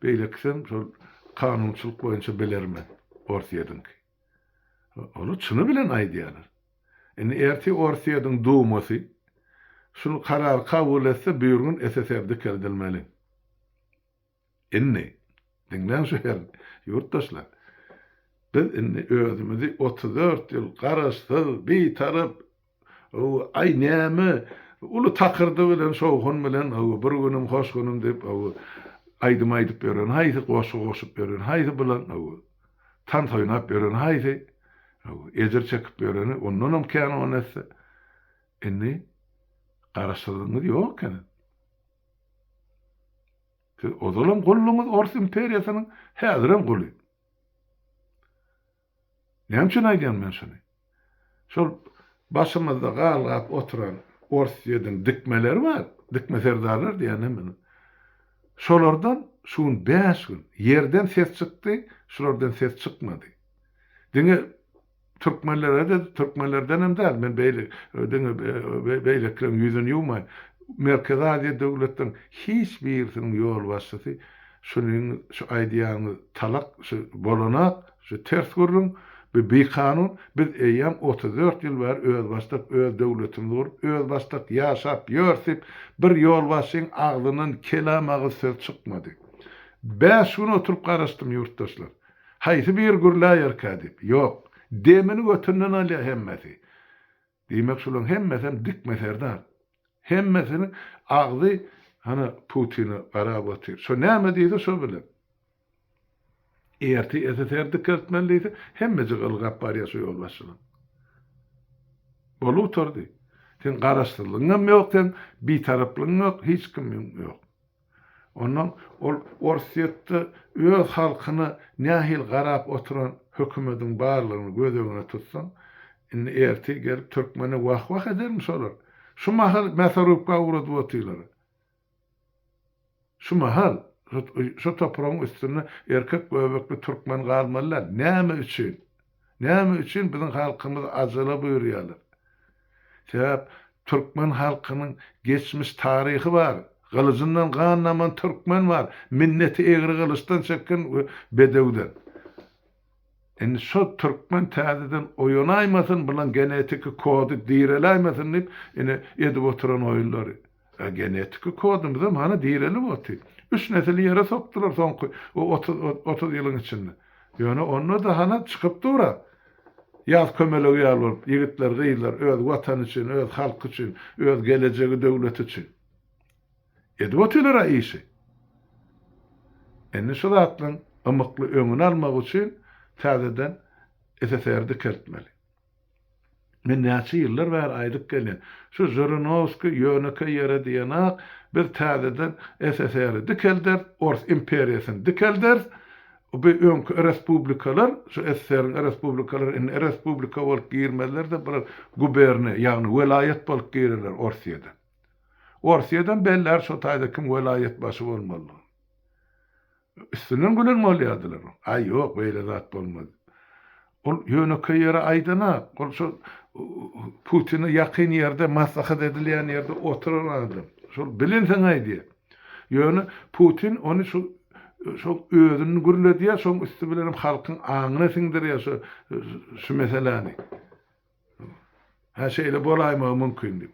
beýlekisem şol kanunçylyk boýunça bilermen, Orsýediňki. Ony çyny bilen aýdýarlar. Indi ertir Orsýetiň Dumasy şul karary kabul etse büýrgün SSR dikeldilmeli. Indi, diňläň şu her ýurtdaşlar, biz indi özümizi otuz dört ýyl garaşsyz, bitarap, Aý, näme, uly takyrdy bilen, şowhun bilen, bir günüm, hoş günüm diýip, aýdym aýdyp ýören haýsy, goşgy goşup ýören haýsy, bilen, tans oýnap ýören haýsy, ejir çekip ýöreni ondanam kän o nätse. Indi Garaşsyzlygyňyz ýok ekeni. Siz ozalam gulduňyz ors imperiýasynyň, häzirem guly. Näme üçin aýdýan men şuny? Şol başymyzda galgap oturan Orsýediň dikmeleri bar, dikme serdarlar diýýän men ony. Şolardan şu gün bäş gün ýerden ses çykdy, şulardan ses çykmady. Diňe türkmenlere-de, türkmenlerden hem däl, men beýle diňe beýlekileriň ýüzüni ýuwmaýyn, Merkezi Aziýa döwletleriniň hiç birisiniň ýolbaşçysy şunyň, şu aýdýanyňyz talak, şu bolanak, Şu ters gürrüň, bu bikanun, biz eýýäm otuz dört ýyl bäri özbaşdak öz döwletimizi gurup, özbaşdak ýaşap ýörüs diýip, bir ýolbaşçyň agzyndan kelam agyz söz çykmady. Bäş gün oturyp garaşdym, ýurtdaşlar. Haýsy biri gürläýerkä diýip. Ýok. Demini götünden alýar hemmesi. Diýmek şulaň hemmesem dikme serdar. Hemmesiniň agzy hana Putine garap otyr. Şo näme diýse şo bilen. Erti SSR dikeltmeli diýse hemmejik ylgap barýar şo ýolbaşçylar. Bolup oturdy. Seň garaşsyzlygyňam ýok seň bitaraplygyň ýok hiç kimiň ýok. Ondan ol Orsýetde öz halkyna nähili garap oturan hökümediň barlygyny göz öňüne tutsaň, indi ertir gelip türkmene wah-wah edermi şolar? Şu mahal Mäsorubka ugradyp otyrlar. Şu mahal şu topragyň üstünde erkek göbekli türkmen galmaly däl. Näme üçin? Näme üçin biziň halkymyz ajala buýurýarlar? Sebäp türkmen halkynyň geçmiş taryhy bar. Gylyjyndan gan daman türkmen bar. Minneti egri gylyçdan çeken we bedewden. Indi şo türkmen täzeden oýanaýmasyn, bulan genetiki kody direläýmesin diýip, ine edip oturan oýunlary. A genetiki kodumyzam hany direlip oty. Üç nesili ýere sokdular soňky o otuz o otuz ýylyň içinde. Ýöne onda-da hany çykyp dur-a. Ýaz kömelegi ýaly bolup, ýigitler, gyzlar öz Watany üçin, öz halky üçin, öz gelejegi, döwleti üçin. Edip otylar-a işi. Indi şu zatlaryň ymykly öňüni almak üçin täzeden SSR dikeltmeli. Men näçe ýyllar bäri aýdyp gelýän, şu Žirinowskiý ýönekeý ýere diýenak, biz täzeden SSR-i dikelderis, Ors imperiýasyny dikelderis, bu öňki respublikalar, şu SSR-iň respublikalary indi respublika bolup girmezler-de, bular guberniýa, ýagny welaýat bolup girerler Orsýede. Orsýedem bellär şo taýda kim welaýatbaşy bolmalydygyny. Üstünden gülen bolýardylar. Aý, ýok, beýle zat bolmaz. Ol ýönekeý ýere aýdan-ak. Ol şol Putine ýakyn ýerde, maslahat edilýän ýerde oturan adam. Şol bilinsoň aýdýar. Ýöne Putin ony şu şoň özüni gürledýär, şoň üsti bilen hem halkyň aňyna siňdirýär şu şu meseläni. Hä, şeýle bolaýmagy mümkin diýip.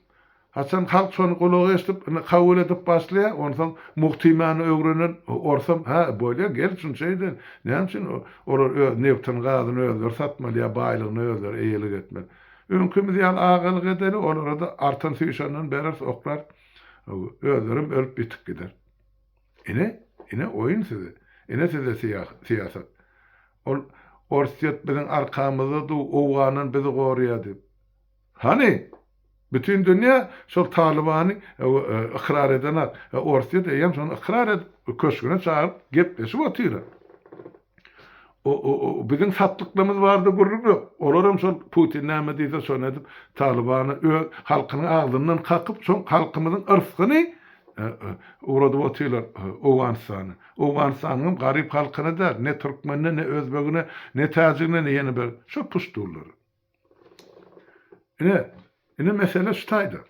Haçan halk şony gulak eşidip, indi kabul edip başlaýar, onsoň Muhtimany öwrenen orsam, Hä, bolýar, gel, şuny şeý edeýin. Näme üçin olar öz nebtini, gazyny özleri satmaly ýa baýlygyna özleri eýelik etmeli? Öňkimiz ýaly agalyk edeli, olara-da artan süýşenden bereris, oklaris. Özlerem ölüp-ýitip gider. Ine, ine oýun size. Ine size syýasat. Ol Orsýet biziň arkamyzda du, Owgandan bizi gorýa diýip. Hany? Bütin dünýä şol Talybany ykrar edenak. Orsýet eýýäm şony ykrar edip, köşgüne çagyryp gepleşip otyra. Biziň satlyklymyz barada gürrüň ýok. Olaram şol Putin näme diýse şony edip, Talybany öz halkynyň agzyndan kakyp, şoň halkymyzyň yrsgyny ugradyp otyrlar Owganystana. Owganystanyňam garyp halkyna däl, ne türkmenine, ne özbegine, ne täjigine, ne ýene bir şo puştunlara. Ine, ine mesele şu taýda.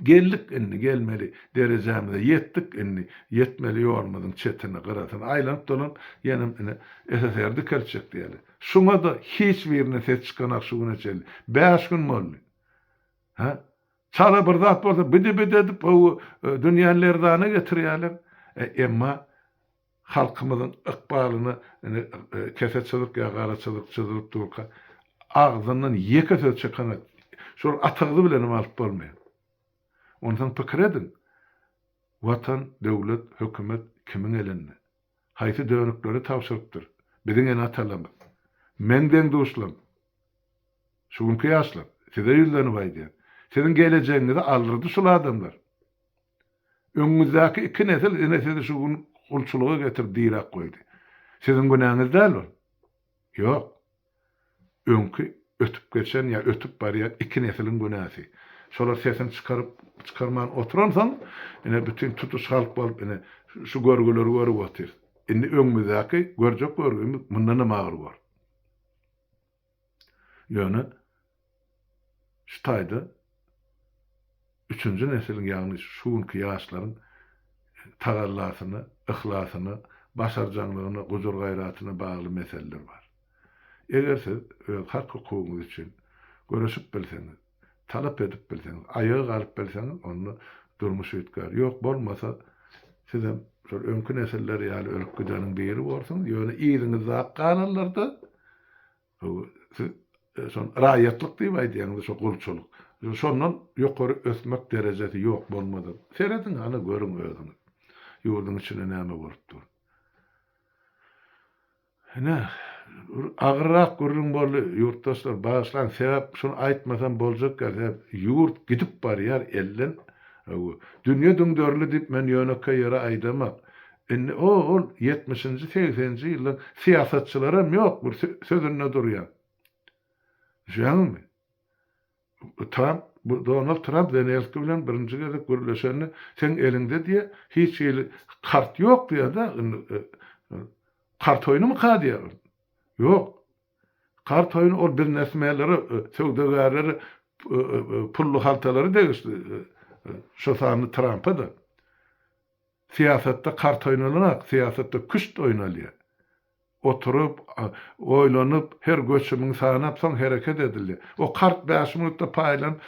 Geldik indi, gelmeli derejämize ýetdik indi, ýetmeli ýolumyzyň çetini, gyrasyny aýlanyp-dolanyp, ýenem ine, SSR dikeltjek diýeli. Şuňa-da hiç birine ses çykanak şu güne çenli. Bäş gün boldy. Hä? Çala bir zat bolsa bidi-bidi edip gowy dünýäni lerzana getirýäler. Emma Halkymyzyň ykbalyny indi kese çyzyk ýa gara çyzyk çyzylyp durka agzyndan ýeke söz çykanak şol atagyzy bilenem alyp bolmaýar. Onsoň pikir ediň, Watan, döwlet, hökümet kimiň elinde? Haýsy dönükleri tabşyrypdyr biziň ene-atalarymyz? Meň deň-duşlarym, şu günki ýaşlar, size ýüzlenip aýdýan, siziň gelejegiňizi aldyrdy şul adamlar. Öňüňizdäki iki nesil ine sizi şu gün gulçulyga getirip diräp goýdy. Siziň günäňiz däl ol. Ýok. Öňki ötüp geçen ýa ötüp barýan iki nesiliň günäsi. Şolar sesini çykaryp çykarman oturansoň, ine bütin tutuş halk bolup ine şu görgüleri görüp otyrys. Indi öňümizdäki görjek görgümiz mundanam agyr bor. Ýöne şu taýda üçünji nesiliň, ýagny şu günki ýaşlaryň tagallasyna, yhlasyna, başarjaňlygyna, gujur-gaýratyna bagly meseleler bar. Eger siz öz hak-hukugyňyz üçin göreşip bilseňiz, talap edip bilseňiz, aýaga galyp bilseňiz, onda durmuş üýtgär. Ýok bolmasa, sizem şol öňki nesiller ýaly ölüp gideniň biri borsuňyz, ýöne yzyňyzdaky galanlarda, bu siz şol raýatlyk diýip aýdýaňyz-da, şo gulçulyk, şondan ýokary ösmek derejesi ýok bolmady. Serediň, hany görüň özüňiz, ýurduň içinde näme bolup dur. Ine, bir agyrrak gürrüň boldy, ýurtdaşlar, bagyşlaň, sebäp şuny aýtmasam boljak däl, sebäp ýurt gidip barýar elden, hawa, dünýe düňderildi diýip men ýönekeý ýere aýdamok. Indi o-ol ýetmişinji, segseninji ýyllaryň syýasatçylaram ýok, bir sö-sözünde durýan. Düşýäňizmi? Tramp, Donald Tramp Zelenskiý bilen birinji gezek gürleşende, Seň eliňde diýýär, hiç hili kart ýok diýýär-de, indi kart oýnumyka diýýär. Ýok. Kart oýny ol biznesmenlere, söwdagärlere pully haltalary degişli, şo sanda Trampa-da. Syýasatda kart oýnalanok, syýasatda küşt oýnalýar. Oturyp, oýlanyp, her göçümiň sanap, soň hereket edildi. O kart bäş minutda paýlan,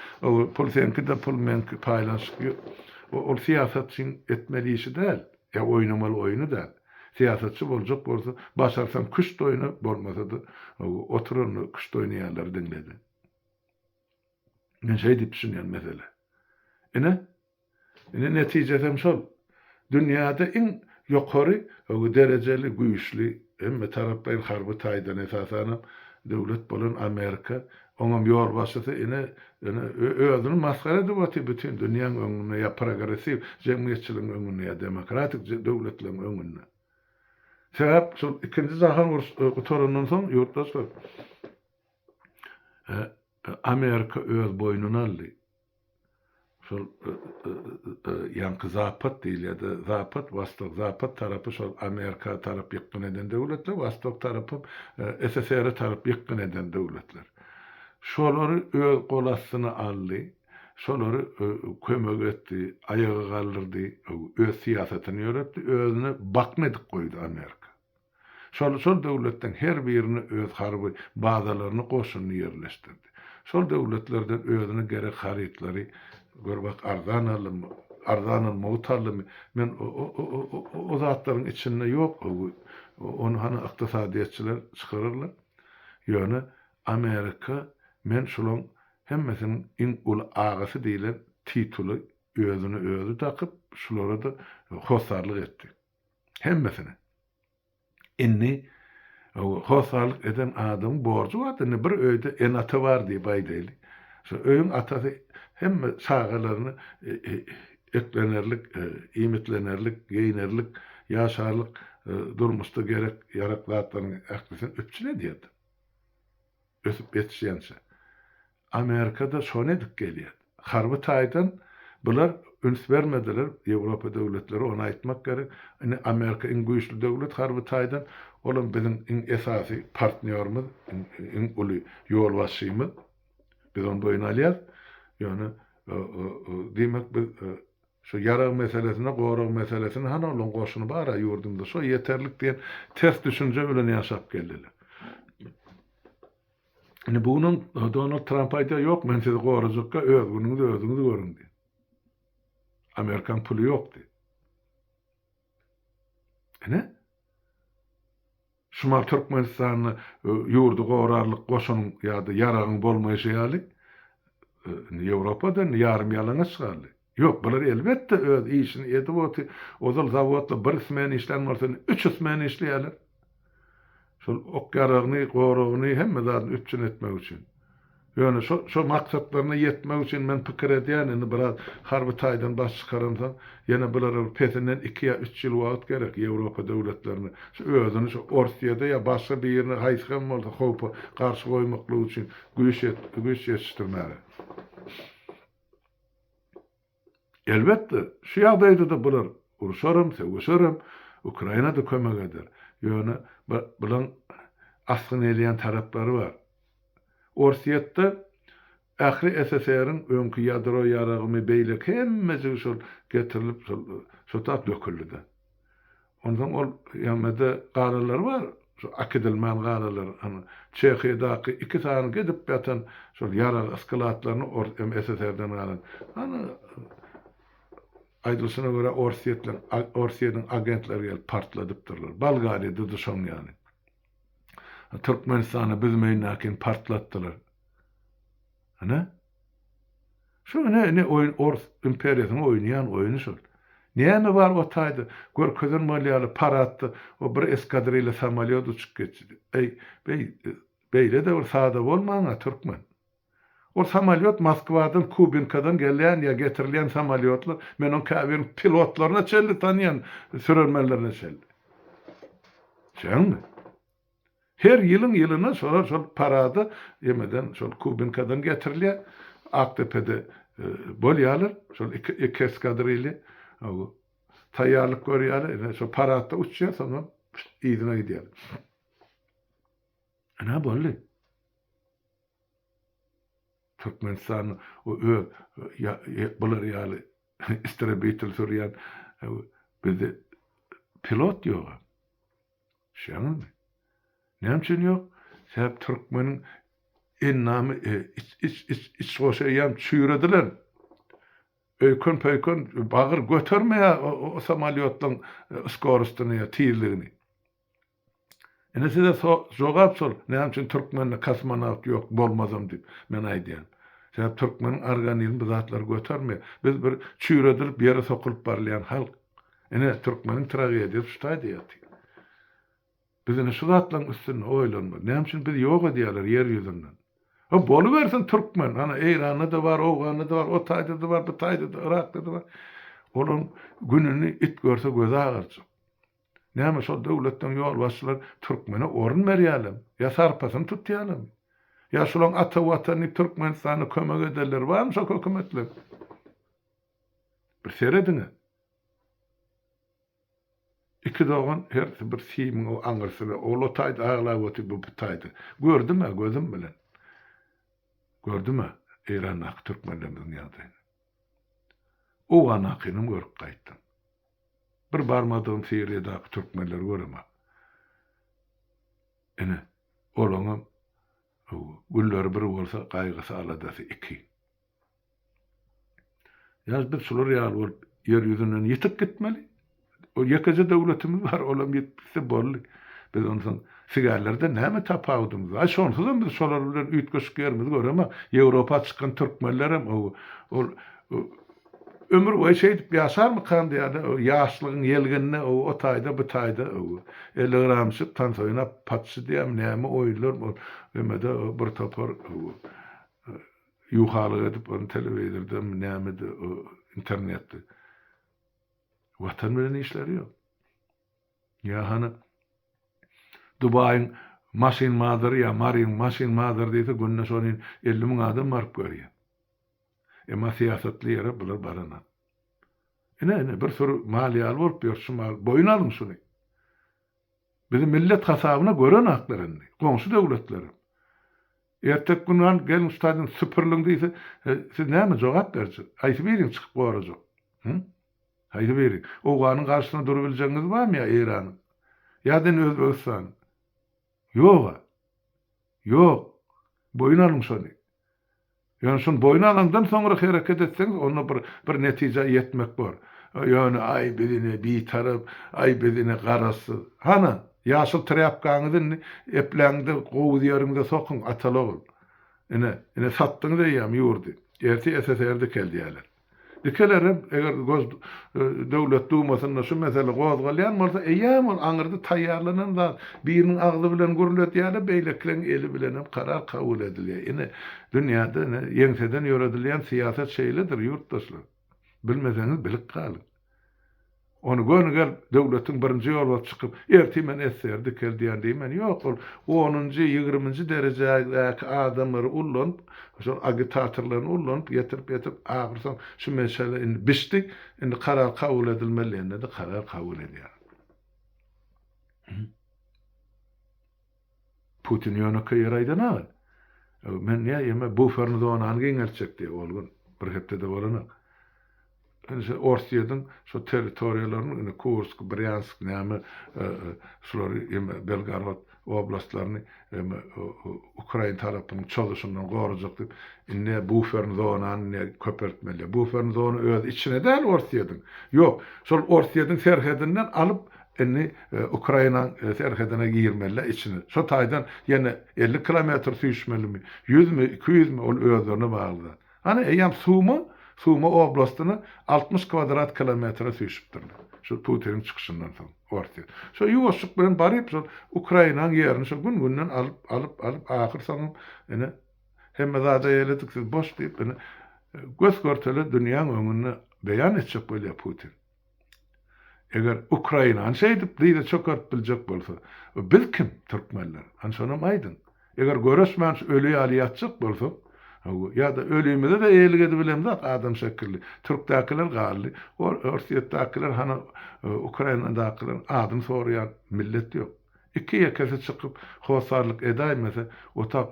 pul seňki-de, pul meňki, paýlanyşyk ýok. Ol syýasatçyň etmeli işi däl, ýa oýnamaly oýny däl. Syýasatçy boljak bolsa, başarsaň küşt oýna, bolmasa-da, oturan küşt oýnaýanlary diňle-de. Men şeý diýip düşünýän, meselem. Ine, Indi netijesem şol. Dünýäde iň ýokary derejeli, güýçli, hemmetaraplaýyn harby taýdan esasanam döwlet bolan Amerika, oňam ýolbaşçysy ine, ine özüni masgara edip otyr bütin dünýäň öňünde ýa progressiw jemgyýetçiligiň öňünde ýa demokratik döwletleriň öňünde. Sebäp şol ikinji jahan urşy gutarandan soň ýurtdaşlar Amerika öz boýnuna aldy. şol ýaňky Zapad diýilýärdi, Zapad, Wostok, Zapad tarapy şol Amerika tarap ýykgyn eden döwletler, Wostok tarapym SSR-e tarap ýykgyn eden döwletler. Şolary öz gol astyna aldy, şolary kömek etdi, aýaga galdyrdy, öz syýasatyny ýöretdi, özüne bakna edip goýdy Amerika. Şol şol döwletleň her birine öz harby bazalaryny goşunyny ýerleşdirdi. Şol döwletlerden özüne gerek harytlary gör bak arzan aldymy arzan almagyt aldymy men o o o o o o zatlaryň içinde ýok öwi ony hany ykdysadyýetçiler çykararlar ýöne Amerika men şulaň hemmesiniň iň uly agasy diýlen tituly özüne özi dakyp şulara da hossarlyk etdi. Hemmesine. Indi hossarlyk eden adamyň borjy bar-da, indi bir öýde ene-ata bar diýip aýdaýly. Şo öýüň atasy hemme çagalaryny eklenerlik, iýmitlenerlik, geýnerlik, ýaşarlyk durmuşda gerek-ýarak zatlaryň ählisini üpjün edýär-de. ösüp ýetişýänçä. Amerika-da şony edip gelýär. Harby taýdan bular üns bermediler, Ýewropa döwletleri, ony aýtmak gerek. Indi Amerika iň güýçli döwlet harby taýdan, olam biziň iň esasy partnýorymyz, iň uly ýolbaşçymyz. Biz ony boýun alýarys. Ýöne, diýmek, biz Şu ýarag meselesine gorag meselesini hany olaň goşuny bara ýurdumyzda şo ýeterlik diýen ters düşünje bilen ýaşap geldiler. Indi bu günüň Donald Tramp aýdýar ýok men sizi gorajakka öz günüňiz özüňiz görüň diýen. Amerikan puly ýok diýen. Ine, Şimal Türkmenistanda e, ýurdy gorarlyk goşunyň ýa-da ýaragyň bolmaýşy ýaly, e, indi Ýewropada indi ýarym ýalaňaç galdy. Ýok, bular elbetde öz işini edip oty, ozal zawodda bir smen işlän bolsa, indi üç smen işleýärler. Şol ok-ýaragyny, goragyny, hemme zadyny üpjün etmek üçin. Ýöne şo-şo maksatlaryna ýetmek üçin men pikir edýän, indi biraz harby taýdan baş çykaransoň, ýene bulara bir pesinden iki ýa üç ýyl wagt gerek, Ýewropa döwletlerine, şu özüni şu Orsyýada ýa başga birine haýsy hem bolsa howpa garşy goýmaklyk üçin güýç ýet-güýç ýetişdirmäge. Elbetde, şu ýagdaýda-da bular urşaram, sögüşerem, Ukraina-da kömek eder. Ýöne bulaň asgyn elýän taraplary bar. Orsýetde ähli SSR-iň öňki ýadro ýaragymy beýleki hemmejigi şol getirilip şol şo tap döküldi-de. Onsoň ol ýanynda galalary bar, şo akidilmän galalar, ana, Çehiýadaky iki sany gidip ýatan şol ýarag skladlaryny ors em SSR-den galan, ana, aýdylyşyna görä, orsýetler, Orsýetiň agentleri gelip partladypdyrlar. Bolgariýada-da şoň ýaly. Türkmenistana biz meýnäkin partlatdylar. Ana. Şu ine ine oýun ors imperiýasynyň oýnaýan oýny şol. Näme bar o taýda görkezen bolýa ýaly paradda o bir eskadrilýa samolýot uçup geçdi. Eý, beý, beýle-de bir sada bolmaň-a, türkmen. Ol samolýot Moskwadan, Kubinkadan gelýän ýa getirilýän samolýotlar, men oň käbirini pilotlaryna çenli tanýan, sürermenlerine çenli. Şeňmi? Her ýylyň ýylyna şolar şol parada ýemeden şol Kubinkadan getirilýär. Akdepede bolýarlar. Şol iki iki eskadrilýa taýýarlyk görýärler. Ine şo paradda uçýar, soňam yzyna gidýärler. Ine boldy. Türkmenistanyň o öz bular ýaly istrebitel sürýän bizde pilot ýogam. Şeňňemi? Näme üçin ýok? Sebäbi türkmeniň endamy iç-iç-iç-iç goşa eýýäm çüýredilen. Öýken-pöýken bagyr götermeýär o samolýotlaryň skorustyny ýa tizligini. Ine size jogap şol, näme üçin türkmende kosmonawt ýok, bolmazam diýip, men aýdýan. Sebäbi türkmeniň organizmi bu zatlary götermeýär. Biz bir çüýredilip ýere sokulyp barylýan halk. Ine, türkmeniň tragediýasy şu taýda ýatyr. Biz ine şu zatlaryň üstünde oýlanmaly. Näme üçin bizi ýok edýärler ýer ýüzünden? Hä, bolubersin türkmen, ana, Eýranda-da bar, Owganda-da bar, o taýda-da bar, bu taýda-da, Yrakda-da bar. Olaryň gününi it görse gözi agarjak. Näme, şol döwletleň ýolbaşçylary türkmene orun berýärlermi? Ýa sarpasyny tutýarlarmy? Ýa şolaryň ata Watan diýip Türkmenistana kömek edenleri barmy şol hökümetleriň? Bir serediň-ä! Iki dogan hersi bir simiň aňyrsyna, ol o taýda aglap otyr, bu bu taýda. Gördüm-ä gözüm bilen. Gördüm-ä Eýrandaky türkmenlerimiziň ýagdaýyny. Owganakynam görüp gaýtdym. Bir barmadygym Siriýadaky türkmenleri göremok. Ine, olaňam günleri bir bolsa, gaýgysy-aladasy iki. Ýa biz şular ýaly bolup ýer ýüzünden ýitip gitmeli? Ýekeje döwletimiz bar, olam ýitip gitse boldy. Biz onsoň sigärlerden näme tapawudymyz bar? Şonsuzam biz şolar bilen üýtgeşik ýerimizi göremek. Ýewropa çykan türkmenlerem o ol ömür boýy şeýdip ýaşarmykan diýýärler. O ýaşlygyň ýelgenine o o taýda bu taýda o ellegeramçyk tans oýnap, patşy diýýärmi näme oýunlar o emede o bir topar o Ýuwhalyk edip ony telewizordamy nämedi o internetdi. Watan bilen işleri ýok. Ýa hany Dubaýyň maşyn mazary ýa Maryň maşyn mazary diýse günde şonin elli müň adam baryp görýä. Emma syýasatly ýere bular baranok. Ine ine bir süri mal ýaly bolup ýör şu mal boýun alyň şuny. Bizi millet hasabyna görenaklar indi goňşy döwletlerem. Erteki gün gan gelin stadion süpüriliň diýse, siz näme jogap berjek? Haýsy biriň çykyp gorajak? Hü? Haýsy biri? Owganyň garşysyna durup biljegiňiz barmy ýa Eýranyň? Ýa den Özbegistanyň? Ýog-a. Ýok. Boýun alyň şony. Ýöne şony boýun alandan soňra hereket etseňiz, onda bir bir netijä ýetmek bor. Ýöne aý biz ine bitarap, aý biz ine garazsyz. Hanan? Ýaşyl trýapkaňyzy indi epläň-de, gowuz ýeriňize sokuň, ataly-ogul. Ine, ine satdyňyz eýýäm ýurdy. Ertir SSR dikeldýärler. Dikelerem, eger Gos döwlet dumasynda şu mesele gozgalýan bolsa, eýýäm ol aňyrda taýýarlanan zat. Biriniň agzy bilen gürledýärler, beýlekileň eli bilenem karar kabul edilýär. Ine, dünýäde ine ýeňseden ýöredilýän syýasat şeýledir, ýurtdaşlar. Bilmeseňiz bilip galyň. Ony göni gelip, döwletiň birinji ýolbasçy çykyp, ertir men SSR dikeldiýän diýmän, ýok, ol onunjy, ýigriminji derejädäki adamlary ullanyp, şol agitatorlaryny ullanyp, getirip-getirip, ahyrsoňy şu mesele indi bişdi, indi karar kabul edilmeli diýende-de karar kabul edýär. Putin ýönekeý ýeri aýdanok. Men ýa ýeme buferni zonany giňeltjek diýýär ol gün. Bir hepdede bolanok. Indi şo Orsýetiň şo territoriýalaryny indi Kursk, Brýansk näme şulary ýeme Belgorod oblastlaryny ýeme ukrain tarapynyň çozuşyndan gorajak diýip indi buferni zonany indi köpeltmeli. Buferni zona öz içine däl Orsýetiň. Ýok, şol Orsýetiň serhedinden alyp Indi Ukrainanyň serhedine girmelä içine. Şo taýdan ýene elli kilometr süýşmelimi, ýüzmi, iki ýüzmi, ol özlerine bagly zat. Hany, eýýäm Suma, Suma oblastyna altmyş kwadrat kilometre süýşüpdirler. Şu Putiniň çykyşyndan soň Orsýet. Şo ýuwaşjyk bilen baryp şol Ukrainanyň ýerini şo gün-günden alyp, alyp, alyp, ahyr soňam ine hemme zada eýledik, siz boş diýip, ine gös-görtele dünýäň öňünde beýan etjek bolýar Putin. Eger Ukrainany şeýdip dyza çökertip biljek bolsa, biz kim, türkmenler? Hany şonam aýdyň. Eger göreşmän şu öli ýaly ýatjak bolsak, ýa-da ölümize-de eýelik edibilemzok adam şekilli. Türkdäkiler galdy. Orsýetdäkiler hany Ukrainadakylaryň adyny soraýan millet ýok. Iki-ýekesi çykyp hossarlyk edäýmese, otag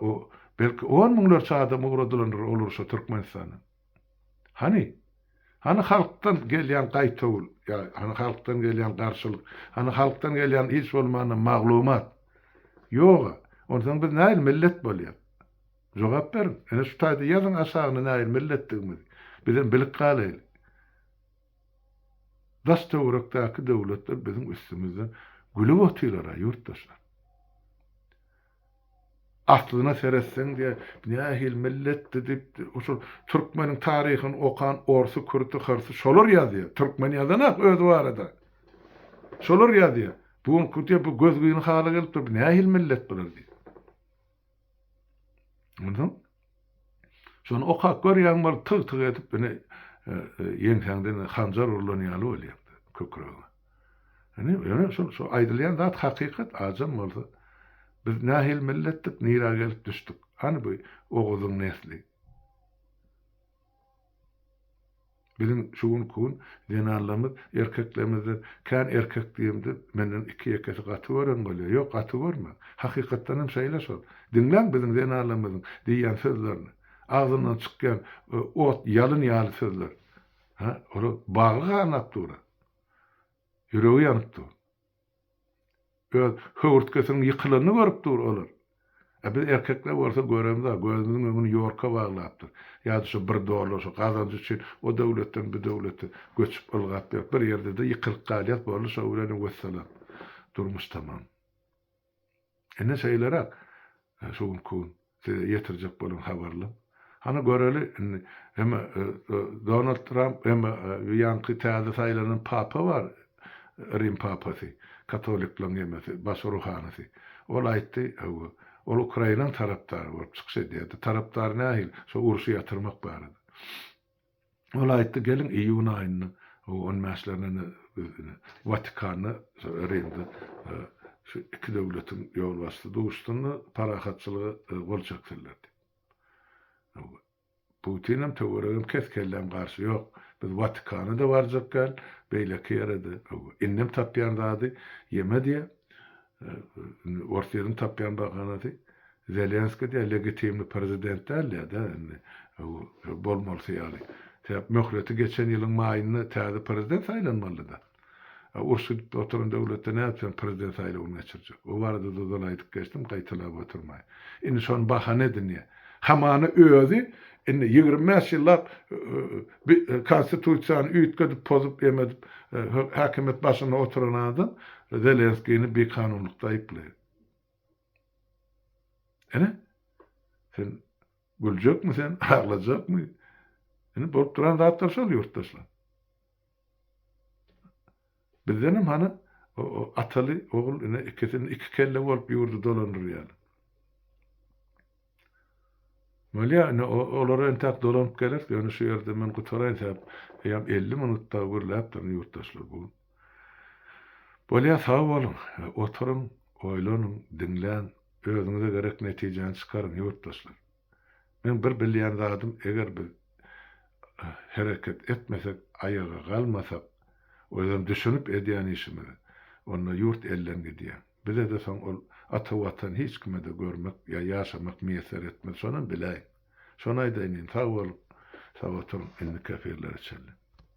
belki on müňlerçe adam ugradylandyr ol urşa Türkmenistandan. Hany? Hany halkdan gelýän gaýtawul? Ýa, hany halkdan gelýän garşylyk? Hany halkdan gelýän hiç bolmanda maglumat? Ýog-a. Onsoň biz nähili millet bolýas? Jogap beriň. Ine şu taýda ýazyň aşagyna nähili milletdigimizi. Bizem bilip galaýly. Daş-töwerekdäki döwletler biziň üstümizden gülüp otyrlar-a, ýurtdaşlar. Aslyna seretseň diýä nähili milletdi diýip şol türkmeniň taryhyny okan orsy kürdü hyrsy şolar ýazýa türkmen ýazanak özi barada şolar ýazýa bu gün kut diýä bu gözgyny hala gelip dur bu nähili millet bular diýip onsoň Şony okap görýäň bolup tyg-tyg edip ine ýeňsäňden hanjar urlan ýaly bolýapdy kökregiňe. Ine ýöne şol şo aýdylýan zat hakykat ajam bolsa biz nähili milletdik nirä gelip düşdük hany bu oguzyň nesli. Biziň şu günki gün zenanlarymyz erkeklerimizden kän erkek diýemde menden iki-ýekesi gaty gören bolýar. Ýok, gaty görmen. Hakykatdan hem şeýle şol. Diňläň biziň zenanlarymyzyň diýýän sözlerini. Agzyndan çykýan ot, ýalyn ýaly sözler. Hä, olar bagy ganap dur. Ýüregi ýanyp dur. Öz höwürtgesiniň ýykylanyny görüp dur olar. A biz erkekler bolsa göremza, gözümiziň öňüni ýorka baglapdyr. Ýa-da şo bir dollar, şo gazanç üçin o döwletden, bu döwlete göçüp ylgap ýörüp, bir ýerde-de ýykylyp galýas, boldy şo bilenem wessalam. Durmuş tamam. Indi şeýleräk, şu günki gün size ýetirjek bolan habarlarym. Hany göreli, indi hem Donald Tramp, hem ýaňky täze saýlanan papa bar, Rim papasy, katolikleriň emesi, baş ruhanysy. Ol aýtdy, hawa, ol Ukrainanyň tarapdary bolup çykyş edýärdi. Tarapdary nähili? Şo urşy ýatyrmak barada. Ol aýtdy, Geliň, iýun aýynyň on bäşlerine biz ine, Watikanda, şo Rimde şu iki döwletiň ýolbaşçysy duşsun-da, parahatçylyga gol çeksinler diýip. Hawa, Putinem, töweregem kes, kelläm garşy, Ýok, biz Watikana-da barjak däl, beýleki ýere-de, hawa, indem tapýan zady ýeme diýýär. Indi Orsýetiň tapýan bahanasy Zelenski diýýär, legitimli prezident dälýa-da indi bolmalysy ýaly. Sebäp möhleti geçen ýylyň maýynda täze prezident saýlanmalydy-da. A uruş gidip oturan döwletde nädip sen prezident saýlawyny geçirjek? O barada duzal aýdyp geçdim, gaýtalap oturmaýyn. Indi şony bahana edinýär. Hamana özi indi ýigrimi bäş ýyllap Bi konstitusiýany üýtgedip pozup emedip häkimiýet başynda oturan adam Zelenskini bi kanunlykda aýyplaýar. Ine sen güljekmi sen aglajakmy ine bolup duran zatlar şol ýurtdaşlar. Bizdenem hany Ataly ogul ine ikisini iki kelle bolup ýurdy dolandyrýaly. Bolýa ine olar entäk dolanyp geler ýöne şu ýerde men gutaraýyn sebäp eýýäm elli minut dagy gürläp duryn ýurtdaşlar bu gün. Bolýa sag boluň oturyň oýlanyň diňläň özüňize gerek netijäni çykaryň ýurtdaşlar. Men bir bilýän zadym eger biz hereket etmesek aýaga galmasak özem düşünip edýän işimizi onda ýurt elden gidýär. Bizede soň ol ata watan hiç kimede görmek ýa ýaşamak miýesser etmez şonam biläýiň. Şony aýdaýyn indi sag boluň sag oturyň indiki efirlere çenli.